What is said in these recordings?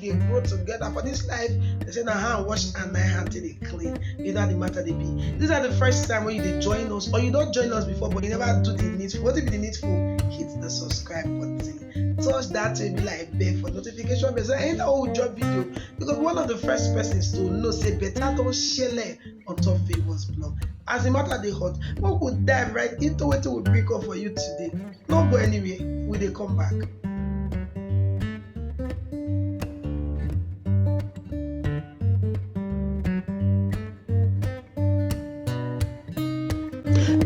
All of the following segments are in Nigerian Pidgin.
dey grow together for this life they say na hand wash and na hand take dey clean you know how the matter dey be this na the first time wey you dey join us or you don join us before but you never do the needful wetin be the needful hit the subscribe button touch that baby like bell for notification bell so anytime wey we drop video you go be one of the first persons to know say better don shele on top favours blog as the matter dey hot make we dive right into wetin we bring come for you today no go anywhere we dey come back.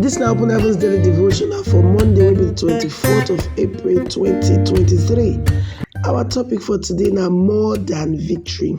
This na Open Heavens Daily Devotional for Monday, wey be the 24th of April 2023. Our topic for today na more than victory.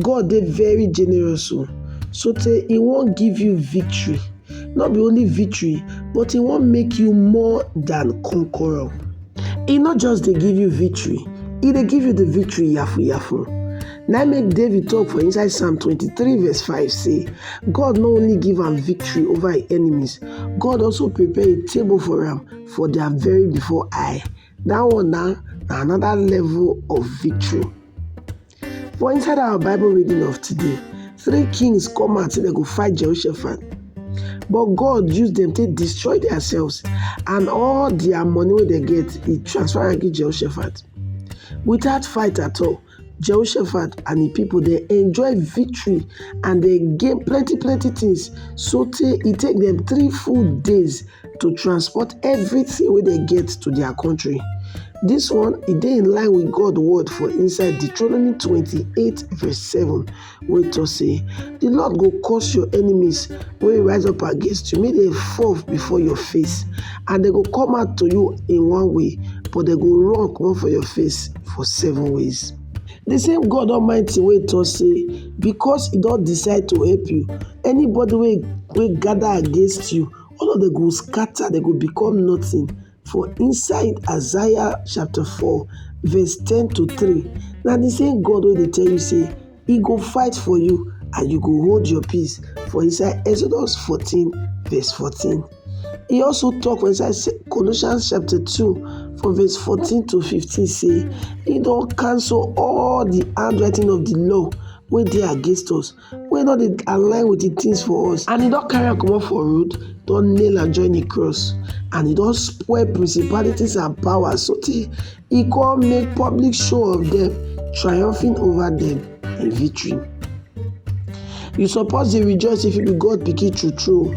God dey very generous o sotey e wan give you victory, no be only victory but e wan make you more than conqueror. E no just dey give you victory, e dey give you de victory yafu yafu. Na im make David talk for inside Psalm twenty three verse five sey God no only give am victory over im enemies, God also prepare a table for am for their very before eye. Dat one na na another level of victory. For inside our Bible reading of today, three kings come out say dem go fight Jehoshaphat. But God use dem take destroy themselves and all their money wey dem get, he transfer am give Jehoshaphat. Without fight at all, Jehoshaphat and the people they enjoy victory and they gain plenty plenty things. So tey e take them three full days to transport everything wey dem get to their country. This one e dey in line with God word for inside Deuteronomy 28 verse 7 wey talk say the Lord go cause your enemies wey rise up against you make dem fall before your face and dem go come out to you in one way but dem go run comot for your face for seven ways. The same God Almighty wey talk say because e don decide to help you anybody wey wey gather against you All of them go scatter, they go become nothing. For inside Isaiah chapter 4, verse 10 to 3, now the same God wey dey tell you say he go fight for you and you go hold your peace for inside Exodus 14 verse 14. He also talk for inside Colossians chapter 2 from verse 14 to 15 say he don cancel all the handwriting of the law wey dey against us wey no dey align with the things for us and he don carry am comot for road don nail am join the cross and he don spoil principalities and powers so tey he come make public show of them triumphing over them in victory you suppose dey rejoice if you be God pikin true true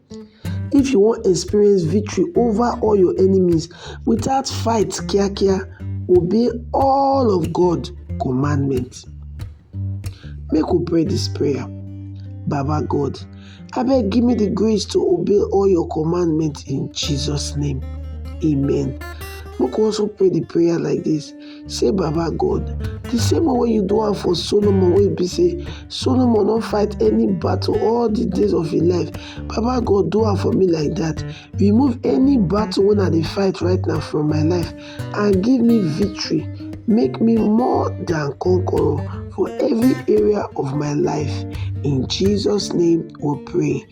If you wan experience victory over all your enemies without fight kiakia, obey all of God commandment. Make we pray this prayer. Baba God, abeg give me the grace to obey all your commandment in Jesus name. Amen. Make we also pray the prayer like this. Say Baba God, di same one wey you do am for Solomon wey be say Solomon no fight any battle all di days of im life, Baba God do am for me like dat. Remove any battle wey I dey fight right now from my life and give me victory. Make me more than conqueror for every area of my life. In Jesus name we pray.